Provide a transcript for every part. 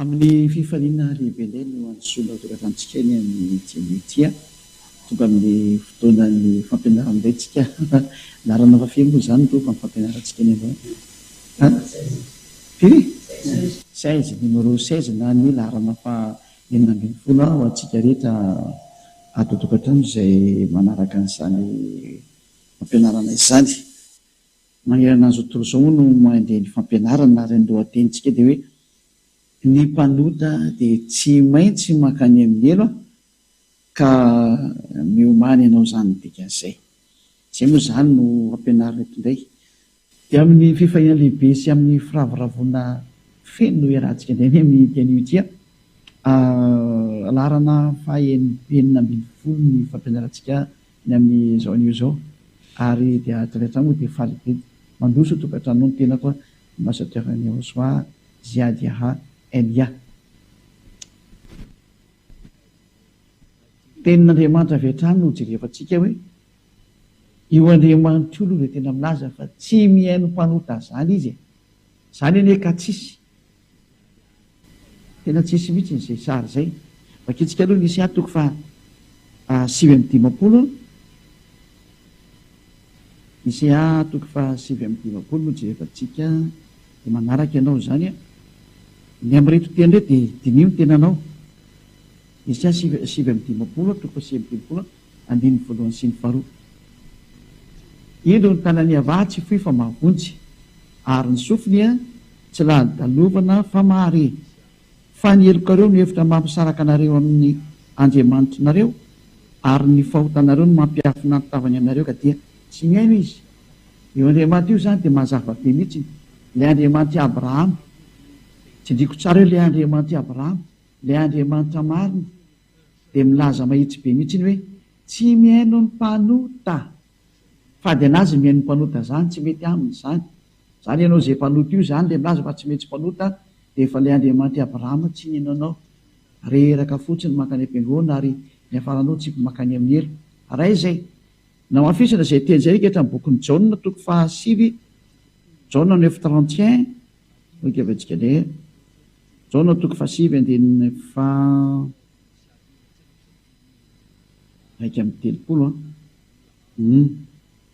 Amin'ny fifaliana ry Belén no hanisoana ho tokantrano-tsika eny amin'ny Tia Mia Tia Tonga amin'ny fotoanan'ny fampianaram-be tsika anarana fa firy moa izany ireo fa ny fampianarantsika eny aloha an? Firy? Seize, numéro seize na ny laharana faha enina ambin'ny folo aho antsika rehetra ato an-tokantrano izay manaraka an'izany fampianarana izany. Manerana an'izao tontolo izao moa no mandeha ny fampianarana ary ny lohatenintsika dia hoe, Ny mpanota dia tsy maintsy mankany amin'ny helo an, Ka miomany ianao izany ny dikan'izay. Izay moa izany no ampianarina eto indray. Dia amin'ny fifaliana lehibe sy amin'ny firavoravoana feno no iarahantsika indray anie amin'ity anio ity an! Ahh, laharana faha enina ambin'ny folo ny fampianarantsika ny amin'izao anio izao ary dia avy hatrany moa dia faly be. Mandroso tokantranonao ny tenako an! Ambassadeur Niahosoa Ziady Aha, NIA. Tenin'Andriamanitra avy hatrany no hojerevantsika hoe io Andriamanitra io aloha dia tena milaza fa tsy mihaino mpanota izany izy e! Izany anie ka tsisy, tena tsisy mihitsy izay sary izay. Vakintsika aloha ny Isa toko faha sivy amby dimampolo, Isa toko faha sivy amby dimampolo no jerevantsika. Dia manaraka ianao izany an! Ny amin'ireto teny ireto dia diniho ny tenanao. Esia sivy sivy amby dimampolo an, toko sivy amby dimampolo an, andininy voalohany sy ny faharoa. Indro ny tanan'i Avah tsy fohy fa mahavonjy, ary ny sofiny tsy lany dalovana fa mahare. Fa ny helokareo no efitra mampisaraka anareo amin'ny Andriamanitry nareo, ary ny fahotanareo no mampiafina ny tavany aminareo ka dia tsy mihaino izy. Io Andriamanitra io izany dia mazava be mihitsiny, ilay Andriamanitr'i Abrahama. Tsindriako tsara eo ilay Andriamanitr'i Abrahama, ilay Andriamanitra marina, dia milaza mahitsy be mihitsiny hoe, Tsy mihaino ny mpanota! Fady an'azy ny mihaino ny mpanota izany, tsy mety aminy izany. Zany ianao izay mpanota io zany le milaza fa tsy mety mpanota de efa le Andriamanitra i Abraham tsy nino anao reraka fotsiny mankany ampengona ary niafaranao tsipy mankany amin'ny helo raha izay namafisina izay teny izay reketra amin'ny bokin'i Jaona toko faha sivy Jaona neuf trente et un no keventsika le Jaona toko faha sivy andininy faha iraika amby telopolo an.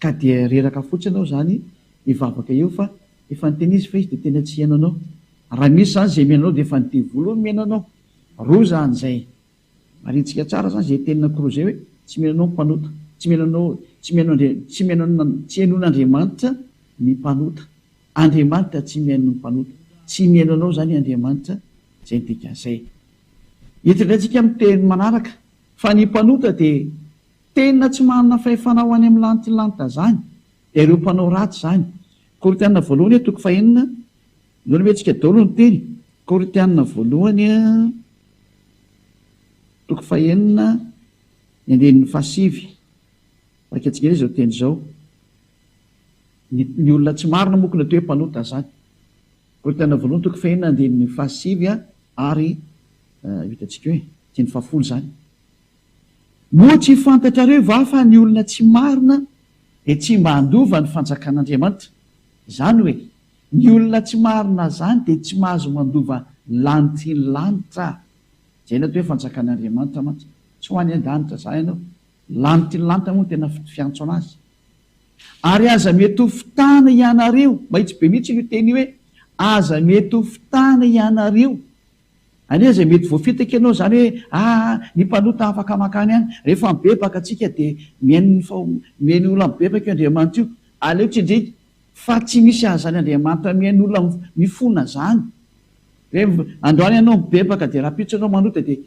Ka dia reraka fotsiny aho izany hivavaka eo fa efa niteny izy fa izy dia tena tsy hihaino anao. Raha misy izany izay mihaino anao dia efa ny devoly hono mihaino anao. Roa izany izay. Marintsika tsara izany izay tenin'i Cruz izay hoe tsy mihaino anao ny mpanota. Tsy mihaino anao, tsy mihaino Andria, tsy mihaino an, tsy hihainoan'Andriamanitra ny mpanota. Andriamanitra tsy mihaino ny mpanota. Tsy mihaino anao izany Andriamanitra. Izay ny dikan'izay. Eto indray isika amin'ny teny manaraka fa ny mpanota dia Tena tsy manana fahefana ho any amin'ny lantilanta zany ireo mpanao ratsy zany. Korintianina voalohany a toko fahenina Nahoana ve antsika daolo no teny? Korintianina voalohany a toko fahenina ny andininy fahasivy Vakintsika indray izao teny izao Ny ny olona tsy marina moa koa natao hoe mpanota zany Korintianina voalohany toko fahenina andininy fahasivy a ary ho hitantsika hoe teny fahafolo zany Moa tsy fantatrareo va fa ny olona tsy marina dia tsy mba handova ny fanjakan'Andriamanitra? Izany hoe, ny olona tsy marina izany dia tsy mahazo mandova ny lanitry ny lanitra. Jereo eto hoe fanjakan'Andriamanitra mantsy. Tsy ho any an-danitra izany ianao. Ny lanitry ny lanitra moa no tena fiantso an'azy. Ary aza mety ho fitana hianareo, mahitsy be mihitsy io teny io hoe aza mety ho fitana hianareo. Anie izay mety voafitaka ianao izany hoe aa ny mpanota afaka mankany any. Rehefa mibebaka tsika dia mihaino ny mihaino olona mibebaka io Andriamanitra io. Aleo tsindrika fa tsy misy azany Andriamanitra mihaino olona mifona izany. Re androany ianao mibebaka dia rapitso ianao manota dia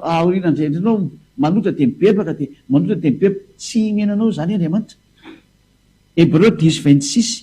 aoriana indray ianao manota dia mibebaka dia manota dia mibebaka. Tsy hihaino anao izany Andriamanitra. Hebreo dix vingt six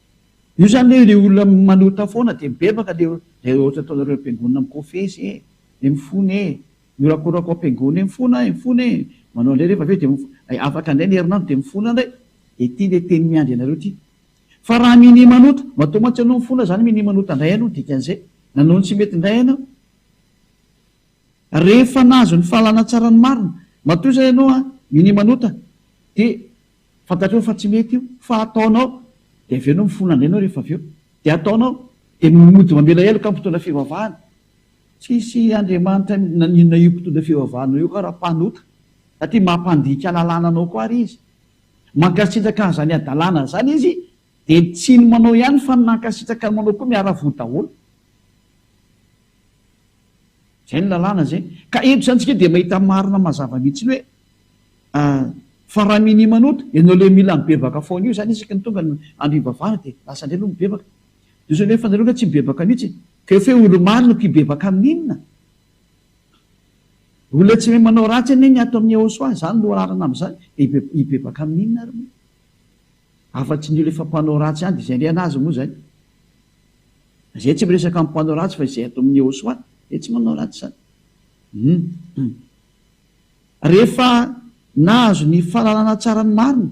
Io izany ilay hoe ilay olona manota foana dia mibebaka ilay izay ohatra ataonareo am-piangonana mikofesy e, dia mifona e, mihorakoraka ao am-piangonana eo mifona e, mifona e, manao indray rehefa avy eo dia mifona, afaka indray ny herinandro dia mifona indray, dia ity ilay teny miandry anareo ity. Fa raha minia manota, matoa mantsy ianao mifona izany minia manota indray ianao, ny dikan'izay, nanao ny tsy mety indray ianao, rehefa nahazo ny fahalana tsara ny marina, matoa izay ianao minia manota dia. Fantatrao fa tsy mety io fa ataonao dia avy eo enao mifona andrainao rehefa avy eo dia ataonao dia mody mamela heloka mpitondra fivavahana tsisy Andriamanitra naninona io mpitondra fivavahanao io ka raha mpanota satria mampandika lalàna anao koa ary izy mankasitraka an'izany hadalana zany izy dia tsy ny manao ihany fa ny nankasitraka ny manao koa miara voa daholo zay ny lalàna zay ka eto zany tsika dia mahita marina mazava mihitsy ny hoe Ah fa raha minia manota ianao le mila mibebaka foana io izany isaky ny tonga ny andro hivavahana dia lasa indray aloha mibebaka dia ozy nefa nareo nga tsy mibebaka mihitsy e! ka efa hoe olo-marina no mpibebaka amin'ny inona? olona tsy mahay manao ratsy anie ny ato amin'ny eosoa izany no rarana amin'izany dia hibebaka amin'ny inona ary moa? afa-tsy ny olo efa mpanao ratsy ihany dia izay indray anazy moa izany izay tsy miresaka amin'ny mpanao ratsy fa izay ato amin'ny eosoa dia tsy manao ratsy izany hum hum Rehefa nahazo ny fahalalana tsara ny marina,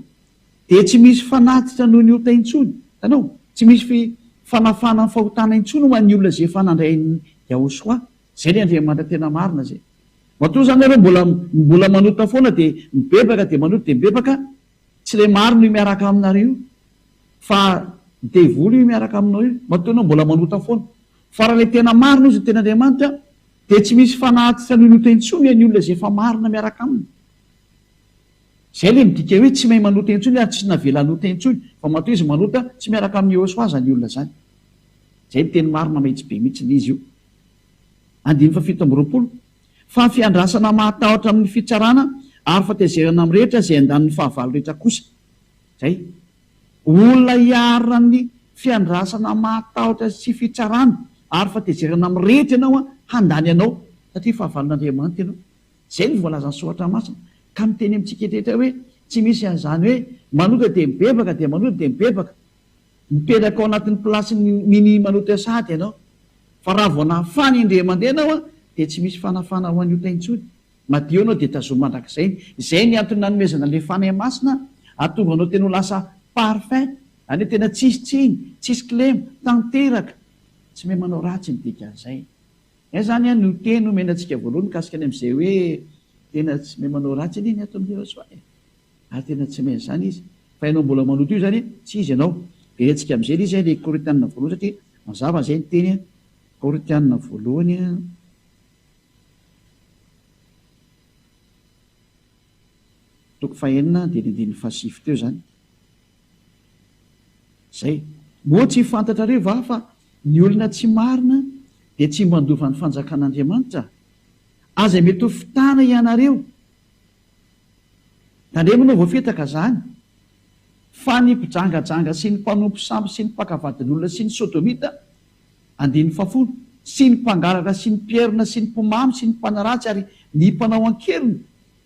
dia tsy misy fanatitra noho ny ota intsony. Hitanao? Tsy misy fanafahana ny fahotana intsony ho an'ny olona izay efa nandray an'i Yahoshuah. Izay ilay Andriamanitra tena marina izay. Matoa izany ianareo mbola mbola manota foana dia mibebaka dia manota dia mibebaka, tsy ilay marina io miaraka aminareo io, fa ny devoly io miaraka aminao io, matoa ianao mbola manota foana. Fa raha ilay tena marina izy, ny tenin'Andriamanitra, Dia tsy misy fanahy tsy hanonota intsony ny olona izay efa marina miaraka aminy. Izay ilay midika hoe tsy mahay manota intsony ary tsy navela hanota intsony, vao matoa izy manota, tsy miaraka amin'i Yehôsoa zany olona zany. Izay ny teny marina mahitsy be mihitsy izy io. Andininy fahafito amby roapolo. Fa fiandrasana mahatahotra amin'ny fitsarana ary fatezeranana amin'ny rehetra izay andanin'ny fahavalo rehetra kosa. izay. Olona iharan'ny fiandrasana mahatahotra sy fitsarana ary fahatezerana mirehitra ianao handany anao satria fahavalon'Andriamanitra ianao. Izay no voalazan'ny Soratra Masina ka miteny amintsika eritreretra hoe tsy misy an'izany hoe manota dia mibebaka dia manota dia mibebaka. Mipetraka ao anatin'ny plasin'ny mini manota sahady ianao. Fa raha vao nafana indray mandeha ianao dia tsy misy fanafana ho an'ny ota intsony. Madio ianao dia tazomy mandrakizay. Izay ny antony nanomezana an'ilay Fanahy Masina hahatonga anao tena ho lasa parfait, any hoe tena tsisy tsiny, tsisy kilema, tanteraka. Tsy mahay manao ratsy ny dikan'izay. Izay izany an no teny omena antsika voalohany mikasika ny amin'izay hoe tena tsy mahay manao ratsy anie ny ato amin'i Jesoa e! ary tena tsy mahay an'izany Izy. Fa ianao mbola maloto io izany an, tsy Izy ianao. Verentsika amin'izay ilay izy an, ilay Korintianina voalohany satria mazava izay ny teny an, Korintianina voalohany an. Toko fahenina andininy andininy fahasivy teo izany izay. Moa tsy fantatrareo va fa ny olona tsy marina dia tsy mbandova ny fanjakan'Andriamanitra? Aza mety ho fitana ianareo. Tandremo no voafitaka zany fa ny mpijangajanga sy ny mpanompo sampy sy ny mpakavadin'olona sy ny sodomita Andininy fahafolo, Sy ny mpangalatra sy ny mpierona sy ny mpimamy sy ny mpanaratsy ary ny mpanao an-keriny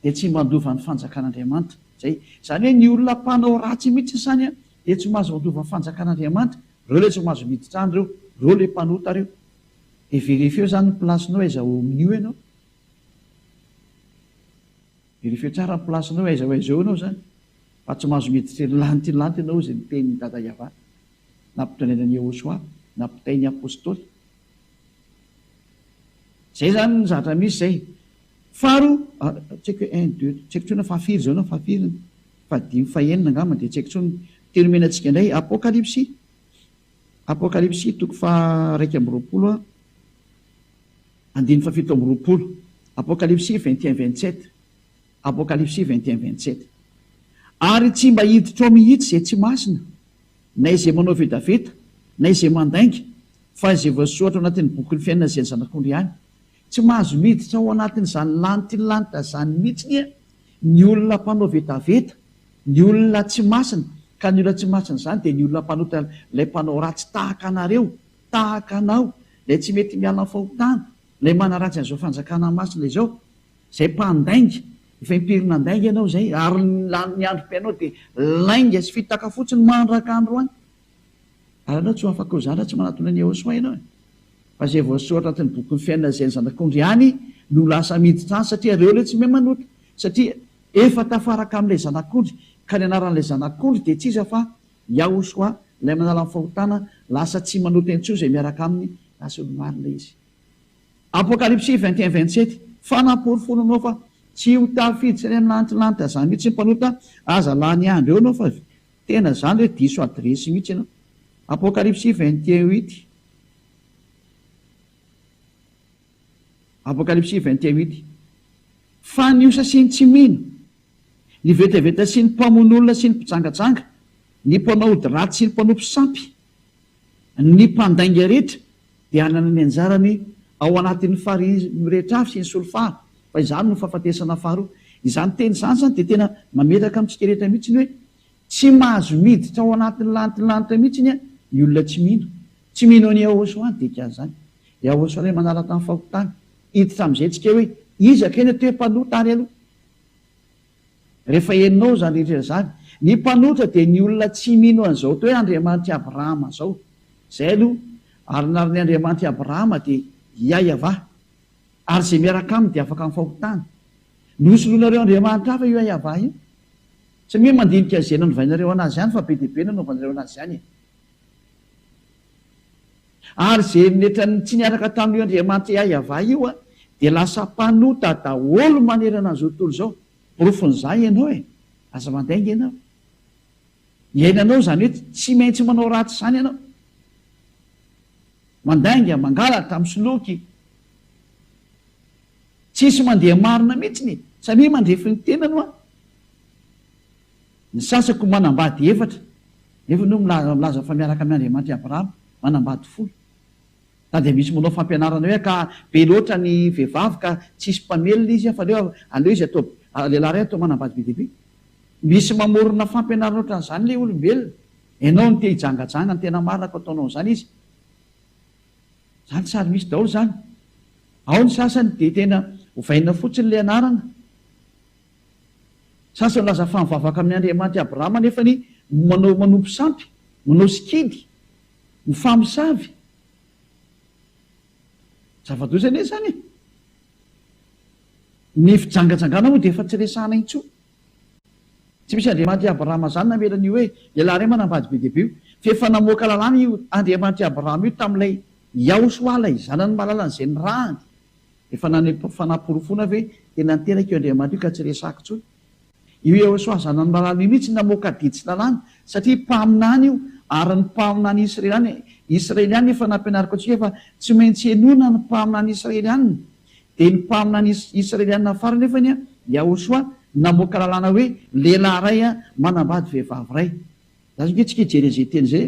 dia tsy mba handova ny fanjakan'Andriamanitra. Izay, izany hoe ny olona mpanao ratsy mihitsy izany dia tsy mahazo handova ny fanjakan'Andriamanitra. Ireo ilay tsy mahazo miditra any ireo, ireo ilay mpanota ireo. Dia verifieo izany ny place-nao aiza ao amin'io ianao. Verifieo tsara ny place-nao aiza ao aiza eo ianao izany. Fa tsy mahazo miditra ery lantilanty ianao izay miteny ny Dada Yavah. nampitondran'i Yehosua, nampitain'ny Apostoly. Zay zany ny zavatra misy zay. Faharoa, tsy haiko hoe un, deux, tsy haiko tsony fahafiry zao na fahafiry, fahadimy, fahenina angamba dia tsy haiko tsony. Teny omena antsika indray Apokalypsy, Apokalypsy toko faha iraika amby roapolo andininy fahafito amby roapolo, Apokalypsy vingt et un vingt sept, Apokalypsy vingt et un vingt sept. Ary tsy mba hiditra ao mihitsy izay tsy masina. na izay manao vetaveta, na izay mandainga, fa izay voasoratra ao anatin'ny bokin'ny fiainana izay ny Zanak'ondry ihany. Tsy mahazo miditra ao anatin'izany lanontin'ny lanitra izany mihitsy anie ny olona mpanao vetaveta, ny olona tsy masina, ka ny olona tsy masina izany dia ny olona mpanota ilay mpanao ratsy tahaka anareo, tahaka anao, ilay tsy mety miala amin'ny fahotana, ilay manaratsy an'izao fanjakana masina izao. Zay mpandainga, efa impiry nandainga ianao zay ary ny lanin'ny androm pianao dia lainga sy fitaka fotsiny mandraka androany. Ary ianao tsy ho afaka ho zanatry manatona an'i Yehosua ianao e. Fa zay voasoratra anatin'ny bokin'ny fiainana zay ny zanak'ondry ihany no lasa miditra any satria reo ilay tsy mahay manota satria efa tafaraka amin'ilay zanak'ondry ka ny anaran'ilay zanak'ondry dia tsy iza fa Yahosua ilay manala ny fahotana lasa tsy manota intsony zay miaraka aminy lasa olo-marina izy. Apokalypsy vingt et un vingt sept, Fa namporofono anao fa tsy ho tafiditra any an'lantilanita zany mihitsy ny mpanota, aza lany andro eo anao fa tena zany re diso adiresy mihitsy ianao. Apokalypsy vingt et un huit, Apokalypsy vingt et un huit, Fa ny osa sy ny tsy mino, ny vetaveta sy ny mpamono olona sy ny mpijangajanga, ny mpanao ody ratsy sy ny mpanompo sampy, ny mpandainga rehetra, dia hanana ny anjarany ao anatin'ny farihy rehetra avy sy ny solifara, fa izany no fahafatesana faharoa. Izany teny izany izany dia tena mametraka amintsika rehetra mihitsy ny hoe tsy mahazo miditra ao anatin'ny lantin'ny lanitra mihitsy ny olona tsy mino. Tsy mino an'i Yahoshuah ny dikan'izany. Yahoshuah ilay manala tamin'ny fahotany. Hiditra amin'izay antsika hoe iza kay no toe-panota ary aloha. Rehefa henonao izany rehetra izany, ny mpanotra dia ny olona tsy mino an'izao atao hoe Andriamanitry Abrahama izao. Izay aloha, ary na ary ny Andriamanitry Abrahama dia Iahiavah, ary izay miaraka aminy dia afaka amin'ny fahotana. Nosoloinareo andriamanitra hafa io Iahiavah io. Tsy ny hoe mandinika izay nanovainareo an'azy ihany fa be dia be nanaovanareo an'azy ihany e. Ary izay eritreritran'ny tsy niaraka tamin'io Andriamanitra Iahiavah io dia lasa mpanota daholo manerana an'izao tontolo izao. Porofon'izany ianao e! Aza mandainga ianao. Iainanao izany hoe tsy maintsy manao ratsy izany ianao. Mandainga, mangalatra, misoloky. Tsisy mandeha marina mihitsy e! Samia mandrefy ny tenany hoa. Ny sasako manambady efatra, nefa enao milaza fa miaraka amin' Andriamanitra i Abrahama, manambady folo. Na dia misy manao fampianarana hoe ka be loatra ny vehivavy ka tsisy mpamelona izy an, fa aleo aleo izy atao lehilahy iray atao manambady be dia be. Misy mamorona fampianarana ohatran'izany le olombelona. Enao no te hijangajanga ny tena marina ka ataonao an'izany izy. Zany sary misy daholo zany. Ao ny sasany dia tena ovaina fotsiny le anarana. Sasany milaza fa mivavaka amin'ny Andriamanitra i Abrahama nefa ny manao manompo sampy, manao sikidy, mifamosavy. Zava-doza anie izany e! Ny fijangajangana moa dia efa tsy resahana intsony. Tsy misy Andriamanitra i Abrahama izany namela an'io hoe lehilahy iray manambady be dia be io, fa efa namoaka lalàna io Andriamanitra i Abrahama io tamin'ilay Yahosoa ilay zanany malalany izay nirahany. Efa nanepo fanaporofoana ve tena niteraka io Andriamanitra io ka tsy resahako intsony? Io Yehosoa zanan'i Maralina io mihitsy namoaka didy tsy lalàna satria mpaminany io ary ny mpaminany Israeliana Israeliana efa nampianariko antsika fa tsy maintsy henoina ny mpaminany Israeliana dia ny mpaminany Israeliana farany anefa ny Yahosoa namoaka lalàna hoe lehilahy iray manambady vehivavy iray za zao antsika hijery an'izay teny izay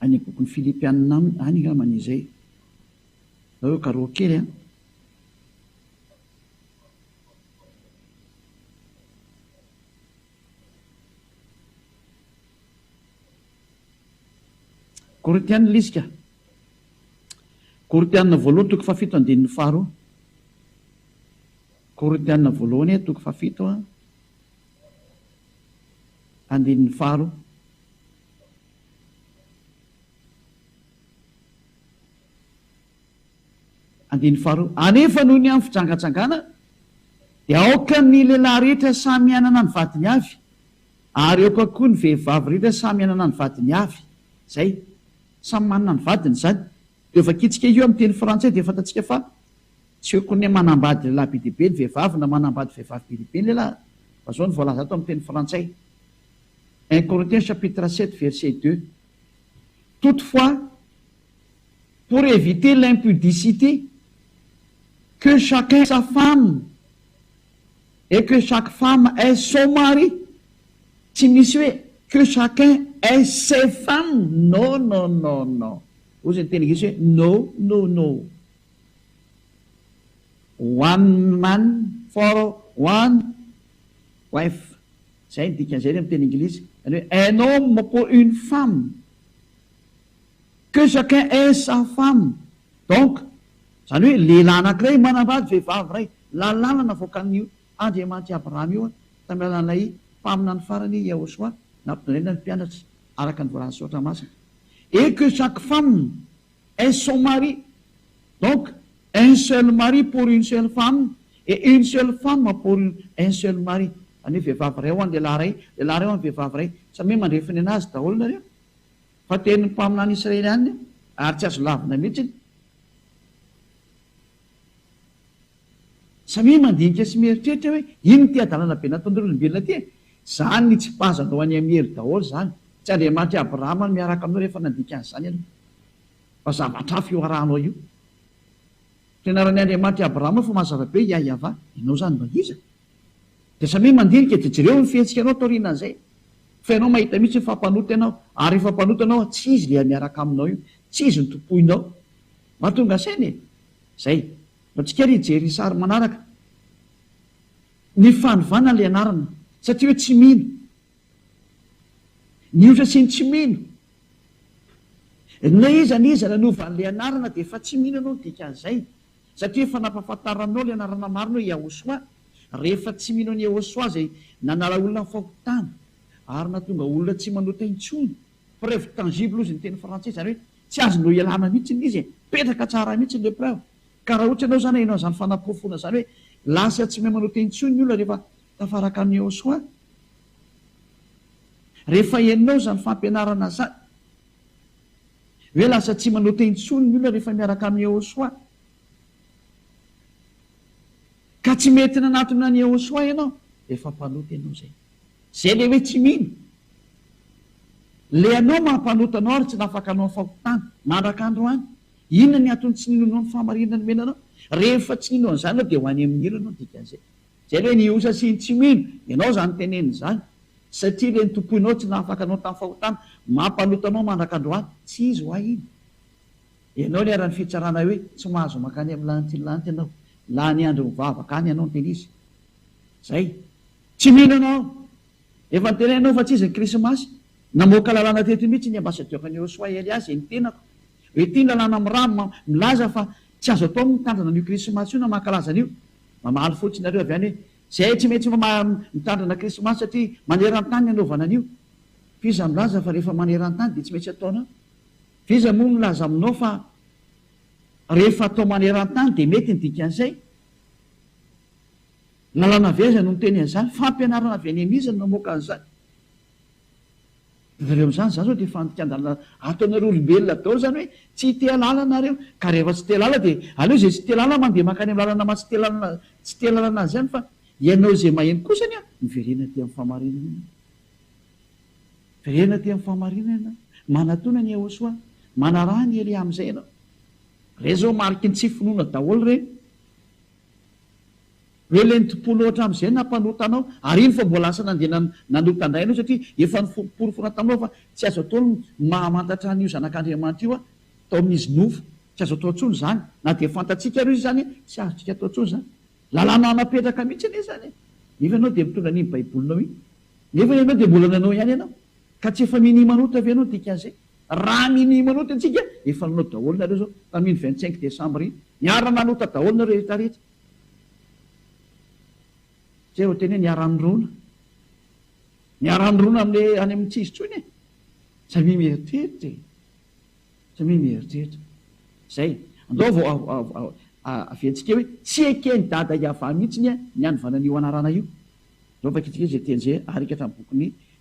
any bokin'ny Filipiana any angambany izay Nareo karoa kely an! Korintianina izy ka. Korintianina voalohany toko fahafito andininy faharoa. Korintianina voalohany e toko fahafito a andininy faharoa. Andininy faharoa, Anefa noho ny amin'ny fijangajangana dia aoka ny lehilahy rehetra samy hanana ny vadiny avy, ary aoka koa ny vehivavy rehetra samy hanana ny vadiny avy. Izay. Samy manana ny vadiny izany. Io vakitsika io amin'ny teny frantsay dia fantatsika fa tsy hokony manambady lehilahy be dia be ny vehivavy na manambady vehivavy be dia be ny lehilahy fa izao no voalaza ato amin'ny teny frantsay, un Corinthiens chapitre sept verset deux, Toutefois, Pour eviter l'impudicité, que chacun sa femme et que chaque femme ait son mari, tsy misy hoe que chacun ait ses femmes, no no no no, hoy izay niteny gasy hoe no no no, one man for one wife, izay ny dikan'izay anie amin'ny teny Anglisy, izany hoe un homme pour une femme, Que chacun ait sa femme, donc zany hoe lehilahy anakiray manambady vehivavy iray, lalàna navoakan'io Andriamanitra i Abrahama io tamin'ny alalan'ilay mpaminany farany Yahoshuah nampidondraina ny mpianatra araka ny voalazan'ny soratra masina, et que chaque femme ait son mari, donc un seul mari pour une seule femme et une seule femme pour un seul mari, zany hoe vehivavy iray ho an'ny lehilahy iray, lehilahy iray ho an'ny vehivavy iray, samia mandray fonen'azy daholo nareo, Fa tenin'ny mpaminany Israeliana, ary tsy azo lavina mihitsy. Samia mandinika sy mieritreritra hoe, Inona ity hadalana be nataon'ireo olombelona ity e? Izany nitsipazanao an'i Amiely daholo izany. Tsy Andriamanitr'i Abrahama no miaraka aminao rehefa nandika an'izany ianao. Fa zavatra hafa io arahanao io. Fianaran'ny Andriamanitr'i Abrahama fa mazava be i Yahyavah. Ianao izany mba iza? Dia samia mandinika dia jereo ny fihetsikanao taorianan'izay fa ianao mahita mihitsy hoe fa mpanota ianao ary rehefa mpanota ianao tsy izy ilay miaraka aminao io, tsy izy no tompoinao. Mahatonga saina e! Izay. Antsika ary hijery ny sary manaraka. Ny fanovana ilay anarana satria hoe tsy mino. Nihotra sy ny tsy mino. Na iza na iza nanova an'ilay anarana dia efa tsy mino ianao ny dikan'izay. Satria efa nampahafantarinao ilay anarana marina hoe Yahosoa, rehefa tsy mino an'i Yahosoa izay nanala olona amin'ny fahotana, ary nahatonga olona tsy manota intsony. Preuve tangible hozy ny teny frantsay, izany hoe tsy azonao ialana mihitsy ilay izy e! Mipetraka tsara mihitsy ilay preuve. Ka raha ohatra ianao izany haino an'izany fanaporofoana izany hoe lasa tsy mahay manota intsony ny olona rehefa tafaraka amin'i Yahosoa, rehefa henonao izany fampianarana izany, Hoe lasa tsy manao teny intsony ny olona rehefa miaraka amin'i Yehosua. Ka tsy mety nanatona an'i Yehosua ianao rehefa mpanota ianao izay. Izay ilay hoe tsy mino. Ilay anao maha mpanota anao ary tsy nafaka hanao ny fahotana, mandraka androany. Inona ny antony tsy ninoanao ny fahamarinana nomena anao? Rehefa tsy nino an'izany ianao dia ho any amin'ny helo ianao, dikan'izay. Izay ve ny osa sy ny tsy mino ianao izany tenenina izany? Satria ve ny tompoinao tsy nahafaka anao tamin'ny fahotana mampaloto anao mandrak'androany? Tsy izy ho'a iny. Ianao niharan'ny fitsarana hoe tsy mahazo mankany amin'ny lahantin'ny lanitra ianao. Lany andro mivavaka any ianao niteny izy izay. Tsy mino ianao. Efa noteneninao fa tsy izy ny Krismasy. Namoaka lalàna teto mihitsy ny Ambasadiora Nirosoa Elias izay ny tenako. Hoe ity ny lalàna mirary milaza fa Tsy azo atao ny mitandrina an'io krismasy io na mankalaza an'io. Mamaly fotsiny nareo avy any hoe, Izahay tsy maintsy mitandrina krismasy satria maneran-tany ny anaovana an'io. F'iza milaza fa rehefa maneran-tany dia tsy maintsy ataonao? F'iza moa milaza aminao fa rehefa atao maneran-tany dia mety ny dikan'izay? Lalàna avy aiza no miteny an'izany? Fampianarana avy any amin'iza no namoaka an'izany? Nareo amin'izany, izany izao dia efa andikan-dalana ato anareo olombelona daholo izany hoe tsy te halala nareo, ka rehefa tsy te halala dia aleo izay tsy te halala mandeha mankany amin'ny lalana maha tsy te lalana tsy te lalana azy ihany fa ianao izay maheno kosa anie miverena aty amin'ny fahamarinana ianao. Miverena aty amin'ny fahamarinana ianao, manatona an'i Yahoshuah, manaraha an'i Elia amin'izay ianao. Ireny izao mariky ny tsy finoana daholo ireny. Hoe lenti-po loatra amin'izay nampanota anao, ary iny fa mbola lasa nandeha nanota indray ianao, satria efa noporofoina taminao fa tsy azo atao ny mahamantatra an'io Zanak'Andriamanitra io tao amin'izy nofo. Tsy azo atao intsony izany. Na dia fantatsika ary io izany e, tsy azontsika atao intsony izany. Lalàna napetraka mihitsy anie izany e. Nefa ianao dia mitondra an'iny Baibolinao iny. Nefa ianao dia mbola nanao ihany ianao. Ka tsy efa minia manota ve ianao dikan'izay? Raha minia manota antsika, efa nanao daholo nareo zao, tamin vingt cinq decembre iny, niara nanota daholo nareo rehetra rehetra, zay vao tena hoe niara nirona, niara nirona amle any amin tsy izy tsony e, samia mieritreritra e, samia mieritreritra, zay, andao vao aventsika hoe tsy eken dada Yavah mihitsiny ny anivana anio anarana io, andao vakitsika izay teny izay ary eka hatramin bokin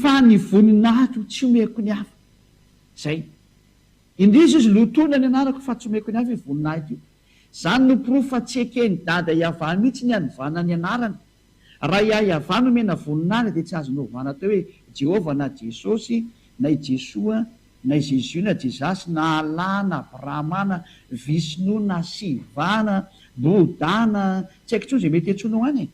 Fa ny voninahiko no tsy omeko ny hafa. Izay. Indrisy izy lotoina ny anarako fa tsy omeko ny hafa io voninahiko io. Izany no porofo fa tsy eken'i Dada Yavah mihitsy ny hanovana ny anarany. Raha i Yavah no omena voninahitra dia tsy azonao ovana atao hoe Jehovah na Jesosy na i Jesoa na i Zezio na Jesasy na Allah na Brahma na Vishnu na Shiva na Bouddha na tsy haiko intsony izay mety iantsoanao any e.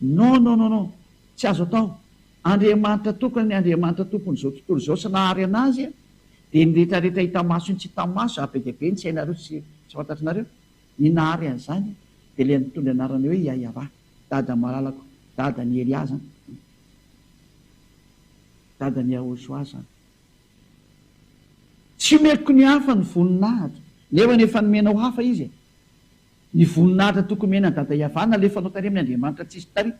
Non non non non tsy azo atao, Andriamanitra tokana ny Andriamanitra tompon'izao tontolo izao sy nahary anazy dia ny rehetra rehetra hita maso sy tsy hita maso ary be dia be ny tsy hainareo sy tsy fantatrnareo ny nahary an'izany dia ilay nitondra ny anarana hoe Yayava dada malalako dada ny Hery aza dada ny Yahoshua aza tsy omeko ny hafa ny voninahitra nefa ny efa nomenao hafa izy e Ny voninahitra tokony omena an'i Dada Iavana alefa anao tary amin' Andriamanitra tsisy tary.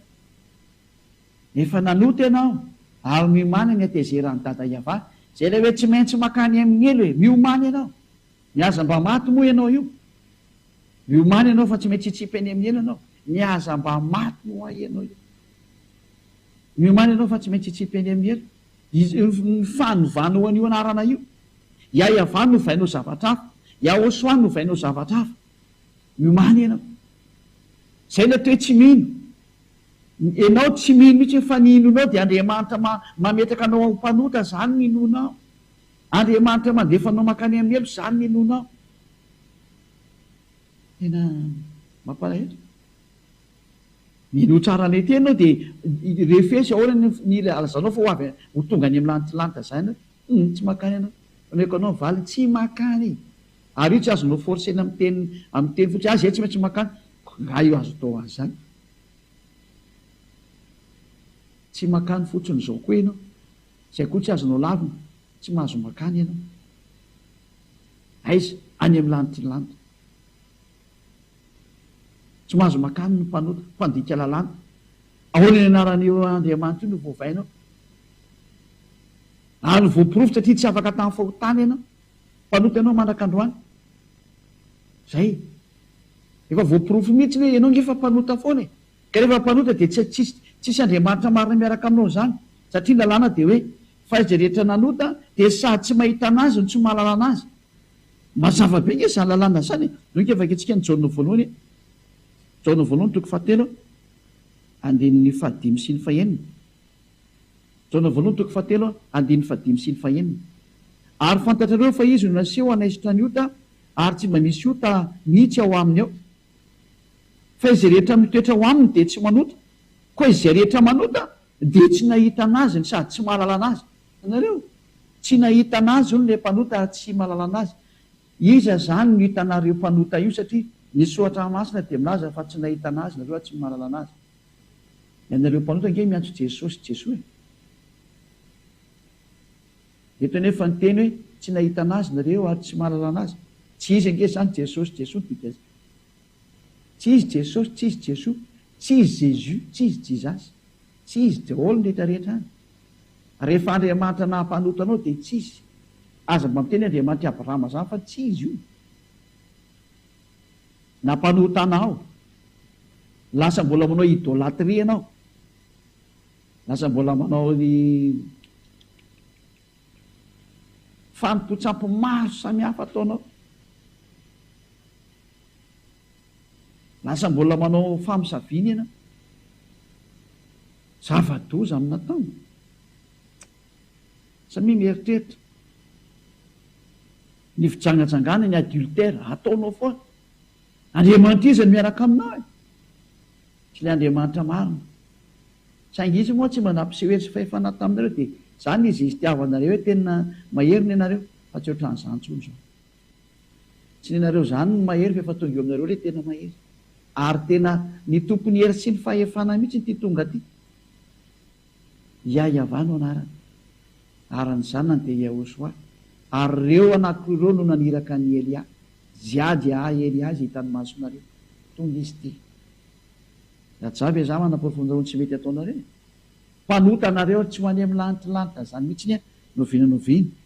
Efa nanota ianao ary miomana ny hatezeran' i Dada Iavana. Izay ilay hoe tsy maintsy makany amin' ny helo e! Miomana ianao. Ny aza mba maty moa ianao io. Miomana ianao fa tsy maintsy hitsipy any amin' ny helo ianao. Ny aza mba maty moa hay ianao io. Miomana ianao fa tsy maintsy hitsipy any amin' ny helo. Ny fanovana ho an' io anarana io. I Ahiavà no ovainao zavatra hafa, i Ahosoa no ovainao zavatra hafa. Miomàna ianao. Izay ilay toe tsy mino. Ianao tsy mino mihitsy hoe fa ny inoanao dia Andriamanitra mametraka anao ho mpanota, izany no inoanao. Andriamanitra mandefa anao mankany amin'ny helo, izany no inoanao. Tena mampalahelo. Mino ho tsara an'ilay teny ianao dia refesy ahoana ny ilazanao fa ho avy ho tonga any amin'ny lanitra izany ianao. Humm tsy makany ianao. Omeko anao ny valiny, tsy makany. Ary io tsy azonao forcer-na amin'ny teny amin'ny teny fotsiny, ah zay tsy maintsy makany. Ko nga io azo atao ho azy zany? Tsy makany fotsiny izao koa ianao. Zay koa tsy azonao lavina, tsy mahazo makany ianao. Aiza? Any amin'ny lanitry ny lanitra. Tsy mahazo makany ny mpanota, mpandika lalàna. Ahoana io anaran'io Andriamanitra io no voavainao? Ary ny voaporofo satria tsy afaka tamin'ny fahotana ianao. Mpanota ianao mandraka androany. Zay. Efa voaporofo mihitsy hoe ianao nge fa mpanota foana e. Ka rehefa mpanota dia tsy tsisy tsisy Andriamanitra marina miaraka aminao izany. Satria ny lalàna dia hoe fa izay rehetra nanota dia sady tsy mahita an'Azy no tsy mahalala an'Azy. Mazava be nge izany lalàna izany e. Noho io nge vakintsika ny Jaona voalohany e. Jaona voalohany toko fahatelo. Andininy fahadimy sy ny fahenina. Jaona voalohany toko fahatelo andininy fahadimy sy ny fahenina. Ary fantatrareo fa izy no naseho hanaisotra ny ota, ary tsy mba nisy ota mihitsy ao aminy ao. Fa izay rehetra mitoetra ao aminy dia tsy manota, koa izay rehetra manota dia tsy nahita anazy no sady tsy mahalala anazy. Hitanareo? Tsy nahita anazy hono ilay mpanota ary tsy mahalala anazy. Iza zany no hitanareo mpanota io satria ny soratra masina dia milaza fa tsy nahitana azy nareo ary tsy mahalala anazy. Ianareo mpanota ange miantso Jesosy Jesoa e. Eto anefa ny teny hoe tsy nahitana azy nareo ary tsy mahalala anazy. Tsy izy ange zany Jesosy Jesoa no dikan'izay. Tsy izy Jesosy, tsy izy Jesoa, tsy izy Jésus, tsy izy Jizasy. Tsy izy daholo ny retraretra any. Rehefa Andriamanitra nahampanota anao dia tsy izy. Aza mba miteny Andriamanitra i Abrahama izany fa tsy izy io nampanota anao. Lasa mbola manao idolatria ianao. Lasa mbola manao ny fanompoan-tsampy maro samihafa ataonao. Lasa mbola manao famosaviana ianao. Zava-doza amin'ny nataony. Samia mieritreritra ny fijangajangana ny adultère ataonao foana. Andriamanitra iza no miaraka aminao e? Tsy ilay Andriamanitra marina. Saingy izy moa tsy mba nampiseho hery sy fahefana taminareo dia izany izy izy tiavanareo hoe tena mahery ny anareo fa tsy ohatran'izany intsony izao. Tsy nenareo zany ny mahery fa efa tonga eo aminareo le tena mahery. Ary tena ny tompony hery sy ny fahefana mihitsy ity tonga ty. Yayava no anarany. Ary ny zanany dia Yehosua. Ary ireo anakoroa ireo no naniraka an'i Elia. Ziady hahay Elia izay hitan'ny masonareo. Tonga izy ty. Rajah ve za manaporofon-dreo ny tsy mety ataonareo e. Mpanota nareo ary tsy ho any amin'ny lanitry lanitra zany mihitsy anie no vinanoviana.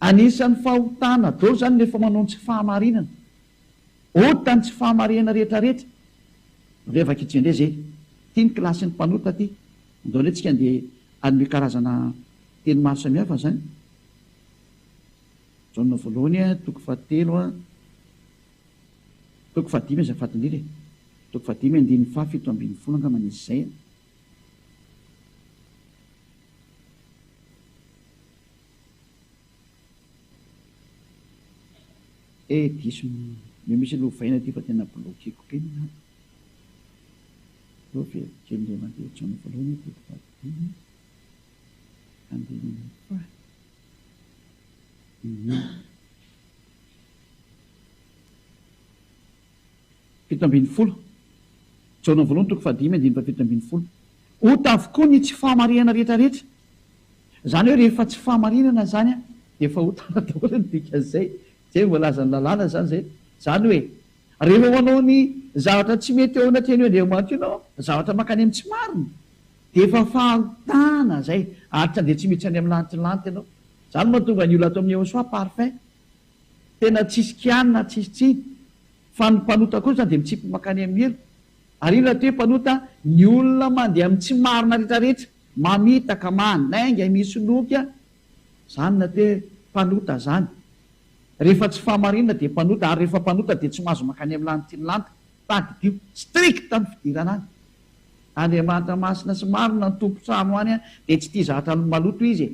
Anisan'ny fahotana daholo izany ny rehefa manao ny tsy fahamarinana. Ota ny tsy fahamarinana rehetra rehetra. Andao efa kitsy indray izay. Ity ny kilasin'ny mpanota ity. Andao indray tsika andeha hanome karazana teny maro samihafa izany. Jaona voalohany a, toko fahatelo a, toko fahadimy aza fadin'ila e. Toko fahadimy andininy faha fito ambin'ny folo angamba nisy izay e. Eh diso ny misy lovaina aty fa tena bloqueko be ny ahy. Aleo very kely indray mandeha intsony voalohany aho teto Vadibeny an. Handinihina koa aho. Hum. Fito ambin'ny folo, Jaona voalohany toko fahadimy andininy fahafito ambin'ny folo. Ota avokoa ny tsy fahamarinana rehetra rehetra. Izany hoe rehefa tsy fahamarinana izany dia efa ota daholo ny dikan'izay. Izay no voalazan'ny lalàna izany izay. Izany hoe rehefa manao ny zavatra tsy mety eo anatrehan'io Andriamanitra io ianao, zavatra mankany amin'ny tsy marina, dia efa fahotana izay. Ary tsy handeha tsy miditra any amin'ny lantilanty ianao. Izany no mahatonga ny olona ato amin'i Yehosua parfait. Tena tsisy kiany na tsisy tsiny fa ny mpanota kosa dia mitsipy mankany amin'ny helo ary inona ity hoe mpanota ny olona mandeha amin'ny tsy marina retraretra mamitaka manainga misoloky a zany na ity hoe mpanota zany rehefa tsy fahamarinana dia mpanota ary rehefa mpanota dia tsy mahazo mankany amin'ny lany tiany lany tadidio strict ny fidirana any Andriamanitra masina sy marina ny tompo trano any dia tsy tia zatra maloto izy e.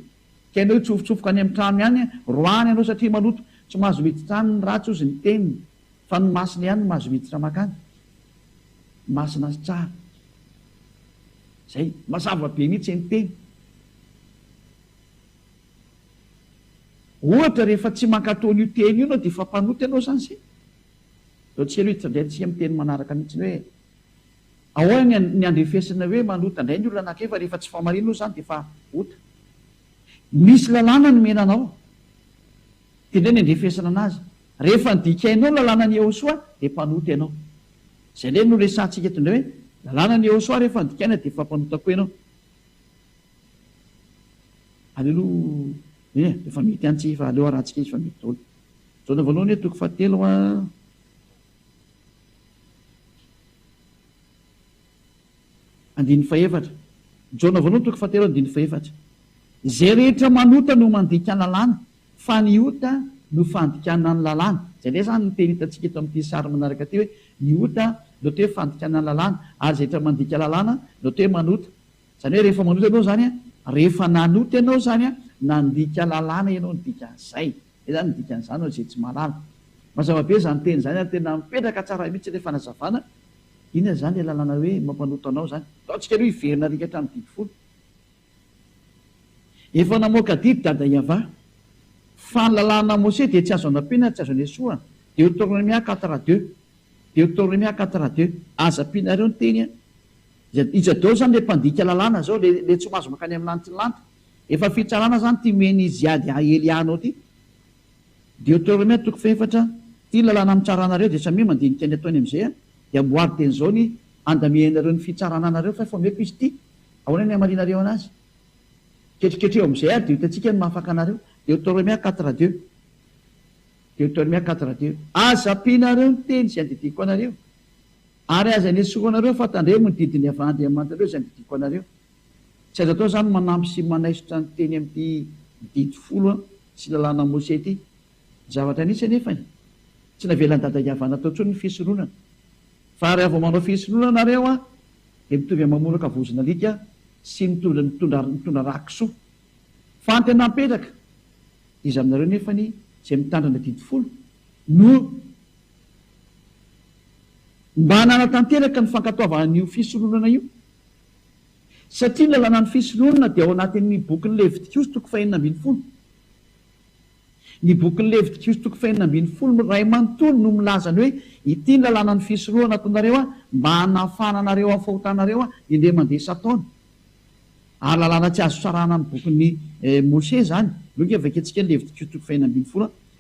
Tsy an'io hitsofotsofoka any amin'ny trano ihany roahany ianao satria maloto. Tsy mahazo miditra any ny ratsy ozy ny teniny fa ny masina ihany no mahazo miditra makany. Masina sy tsara. Zay. Mazava be mihitsy ny teny. Ohatra rehefa tsy mankato an'io teny io ianao dia efa mpanota ianao zany se. Zao tsy ela io hitrandraintsika amin'ny teny manaraka mihitsy hoe. Ahoana ny ny andrefesana hoe manota indray ny olona anankiray fa rehefa tsy fahamariana oa izany dia efa ota. Misy lalàna nomena anao dia indray ny andrefesana anazy. Rehefa nodikainao ny lalànan'i Yehosua dia mpanota ianao. Izay indray no resahantsika eto indray hoe lalànan'i Yehosua rehefa nodikaina dia efa mpanota koa ianao. Aleloia. Eny e, efa mety ihany tsy fa aleo arahantsika izy fa mety daholo. Jaona voalohany hoe toko fahatelo a. Andininy fahefatra. Jaona voalohany toko fahatelo andininy fahefatra. Izay rehetra manota no mandika ny lalàna, fa ny ota no fandikana ny lalàna. Izay indray izany no teny hitantsika eto amin'ity sary manaraka ity hoe ny ota no atao hoe fandikana ny lalàna, ary izay rehetra mandika lalàna no atao hoe manota. Izany hoe rehefa manota ianao izany, rehefa nanota ianao izany, nandika lalàna ianao ny dikan'izay. Izay izany ny dikan'izany ho an'izay tsy mahalala. Mazava be izany teny izany ary tena mipetraka tsara mihitsy ilay fanazavana. Inona izany ilay lalàna hoe mampanota anao izany? Ataontsika aloha hiverina rika hatramin'ny didy folo. Efa namoaka didy Dada Yava, fa ny lalàna Mose dia tsy azo anampiana ary tsy azo anesoana. Deotornomia quatre deux. Deotornomia quatre deux. Aza ampianareo ny teny an! Iza daolo zany le mpandika lalàna zao le le tsy mahazo makany am lanitry ny lanitra? Efa fitsarana zany ty meni izy ady a elianao ty. Deoteronomia toko fahefatra ty lalàna mitsaranareo de samia mandinika ny ataony amzay a de amboary teny zao ny andamianareo ny fitsarana anareo fa efa omeko izy ty ahoana ny hamalianareo anazy? Ketriketreho amzay ary de ho hitantsika ny mahafaka anareo. Deoteronomia quatre deux Deoteronomia quatre deux Aza ampianareo ny teny zay andidiko anareo. Ary aza ny esorina anareo fa tandremo ny didin'ny Avandriamantareo izay didiako anareo. Tsy azo atao izany ny manampy sy manaisotra ny teny amin'ity Didy folo sy Lalàna Mose ity. Zavatra nisy anefa e! Tsy navelan'i Dada Yava natao intsony ny fisoronana. Fa raha vao manao fisoronana nareo an, dia mitovy amin'ny mamoraka vozon'alika sy mitondra mitondra mitondra ra kisoa. Fa ny tena mipetraka, iza aminareo nefany izay mitandrina didy folo? no mba nanatanteraka ny fankatoavana an'io fisoronana io, satria ny lalàna ny fisoronana dia ao anatin'ny bokin'ny Levitikoso toko fahenina ambin'ny folo. Ny bokin'ny Levitikoso toko fahenina ambin'ny folo iray manontolo no milaza ny hoe, Ity ny lalàna ny fisoronana ataonareo mba hanafahana anareo amin'ny fahotanareo indray mandeha isan-taona. Ary lalàna tsy azo sarahana ny bokin'i Mosè izany. Aloha ve havakiantsika ny Levitikoso toko fahenina ambin'ny folo.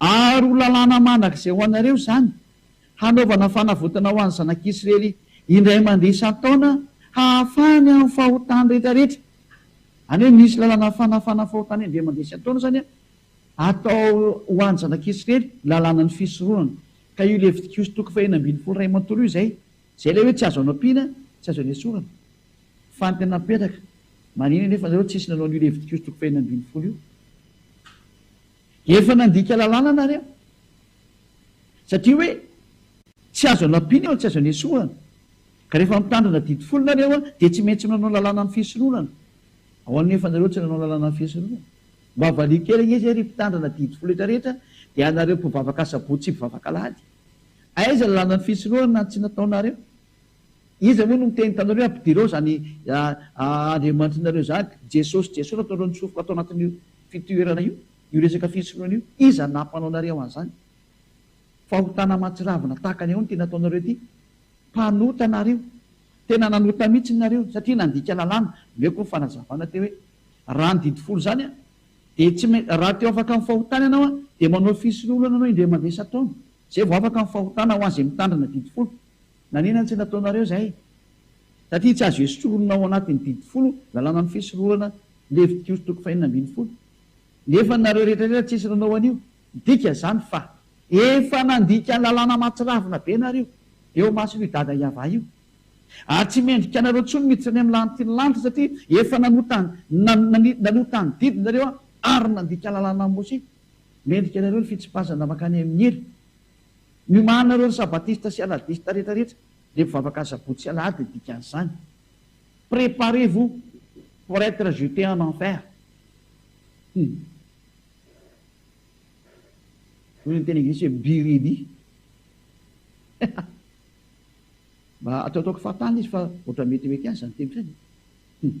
Ary ho lalàna mandrakizay ho anareo izany, hanaovana fanavotana ho an'ny zanak'Israely indray mandeha isan-taona hahafahany amin'ny fahotany rehetrarehetra. Izany hoe misy lalàna fanafahana fahotana indray mandeha isan-taona izany atao ho an'ny zanak'Israely, lalànan'ny fisorohana. Ka io Levitikosy toko fahenina ambin'ny folo iray manontolo io izay. Izay ilay hoe tsy azo anampiana, tsy azo anesorana. Fa ny tena mipetraka, marihina anefa nareo tsisy nanao an'io Levitikosy toko fahenina ambin'ny folo io. Efa nandika lalàna nareo satria hoe tsy azo anampiana eo tsy azo anesoana ka rehefa mitandrina didy folo nareo dia tsy maintsy manao lalàna ny fisoronana ao an'ny nefa nareo tsy nanao lalàna ny fisoronana mba valio kely anie zay ry mpitandrina didy folo rehetra rehetra dia anareo mpivavaka asabotsy sy mpivavaka alahady aiza lalàna ny fisoronana tsy nataonareo Iza moa no niteny taminareo hoe ampidirao izany andriamanitrnareo izany? Jesosy Jesosy nataonareo nitsofoka tao anatin'io fitoerana io, io resaka fisotroana io. Iza no nampanao anareo an'izany? Fahotana mahatsiravina tahaka ny ahoana ity nataonareo ity? Mpanota nareo! Tena nanota mihitsy nareo satria nandika lalàna. Omeko ny fanazavana teo hoe raha ny didy folo izany dia tsy main, raha te ho afaka amin'ny fahotana ianao dia manao fisoronana anao indray mandeha isan-taona. Izay vao afaka ny fahotana ho an'izay mitandrina didy folo. Nanenany tsy nataonareo izay. Satria tsy azo esoronina ao anatin'ny didy folo lalànan'ny fisororana Levitios toko fahenina ambin'ny folo. Nefa nareo rehetra rehetra tsisy nanao an'io. Midika izany fa efa nandika ny lalàna mahatsiravina be nareo eo imason'io Dada Yavah io. Ary tsy mendrika anareo intsony miditra any amin'ny lanitry ny lanitra satria efa nanota ny nanota ny didy nareo ary nandika ny lalànan'i Mosè. Mendrika anareo ny fitsipazana mankany amin'ny hira. Miomàna anareo ry Sabatista sy Aladista rehetrarehetra, dia mpivavaka Asabotsy sy Alahady ny dikan'izany. Préparez vous pour être jeté en enfer. Hum. Hoy ny teny anglisy hoe be ready. Mba ataotaoko fahatany izy fa ohatra metimety ahy izany teny izany. Hum.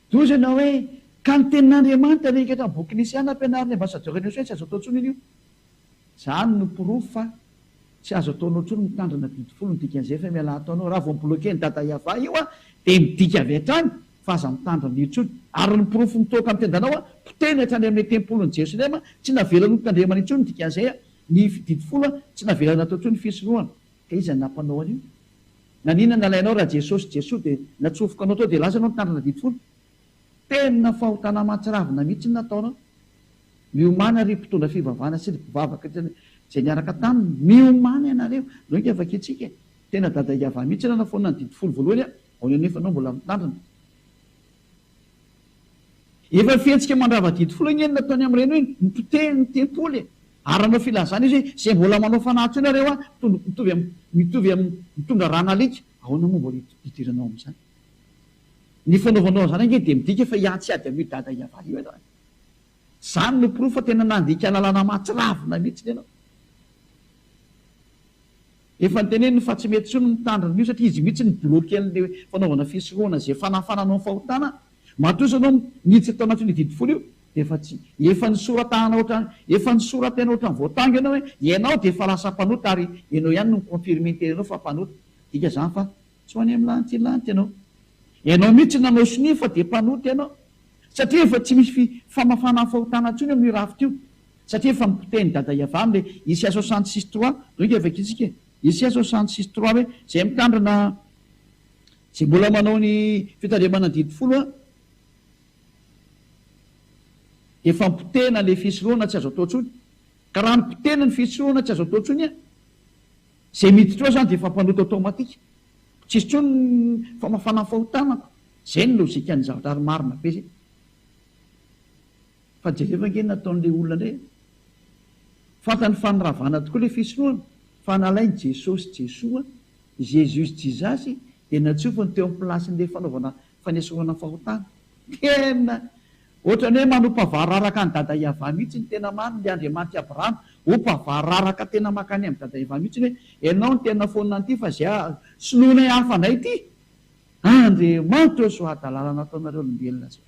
Toy izay na hoe, Ka ny tenin'Andriamanitra ve ingahy ka boky nisy ahy nampianarin'ny ambassadeur an'i Suède tsy azo atao intsony anio? Izany no porofo fa tsy azo ataonao intsony mitandrina didy folo ny dikan'izay efa mialà ataonao. Raha vao mi-bloquer ny dada Yavah io aho dia midika avy hatrany fa aza mitandrina an'io intsony. Ary ny porofo mitoaka amin'ny tendanao aho, potehiny hatrany amin'ny tempolin'i Jerosalema, tsy navelan'ny olon-tandremana intsony ny dikan'izay aho, ny didy folo aho tsy navelany natao intsony ny fisorohana. Aiza ny nampanao an'io? Naninona nalainao raha Jesosy Jesoa dia natsofokanao tao dia lasa ianao nitandro na didy foana? Tena fahotana mahatsiravina mihitsy ny nataonao. Miomana ry mpitondra fivavahana sy ry mpivavaka izay niaraka taminy, miomana ianareo. Ndao ingahy vakiantsika e! Tena dada Iavah mihitsy raha nafoanana ny didy folo voalohany aho, aorian'io efa ianao mbola mitandrina. Efa fihetsika mandrava-didy foana anie ny nataony amin'ireny hoe nipoteha ny tempoly e! Ary nanao filazana izy hoe izay mbola manao fanahy teo nareo a! mitovy amin'ny mitovy amin'ny mitondra rà an'alika, ahoana moa vao hidiranao amin'izany? Ny fanaovanao an'izany ange dia midika fa hiatsy hiady amin'io dada hiavara io ianao e! Izany no porofo fa tena nandika lalàna mahatsiravina mihitsy ianao. Efa noteneniny fa tsy mety intsony ny mitandrina an'io satria izy mihitsy ni-bloquer an'ilay fanaovana fisorohana izay fanafanana ny fahotana. Matoa izao ianao niditra tao anatin'io didy folo io dia efa tsy, efa nisoratahana ohatrany, efa nisoratena ohatrany voatango ianao hoe ianao dia efa lasa mpanota ary ianao ihany no mi-confirmer ny tenanao fa mpanota. Midika izany fa Tsy ho any amin'ny lanitra i lanitra ianao. Ianao mihitsy no nanao sonia fa dia mpanota ianao. Satria efa tsy misy famafana fahotana intsony eo amin'io rafitra io. Satria efa nipotehiny Dada Iavam le Isia soixante six trois reo dia efa kitsika e. Isia soixante six trois hoe zay mitandrina zay mbola manao ny fitandremana didy folo a dia efa nipotehina le fisorohana tsy azo atao intsony. Ka raha nipotehina ny fisorohana tsy azo atao intsony a. Izay miditra ao izany dia efa mpanota automatique, tsisy intsony ny famafana ny fahotanako, izay ny logique ny zavatra ary marina be izay. Fa jereo ange ny ataon'ilay olona indray a! Fantany fa niravana tokoa ilay fisorohana fa nalainy Jesosy Jesoa, Jesus Jesus, dia natsofony teo amin'ny place-n'ilay fanaovana fanesorana fahotana. Tena Ohatrany hoe manopa vararaka any Dada Iavah mihitsy ny tena marina ry Andriamanitry Abraham opa vararaka tena makany am Dada Iavah mihitsy ny hoe enao ny tena fonina anty fa zay soloinay hafa ndray ty Andriamanitra o soa hadalala nataonareo olombelona zay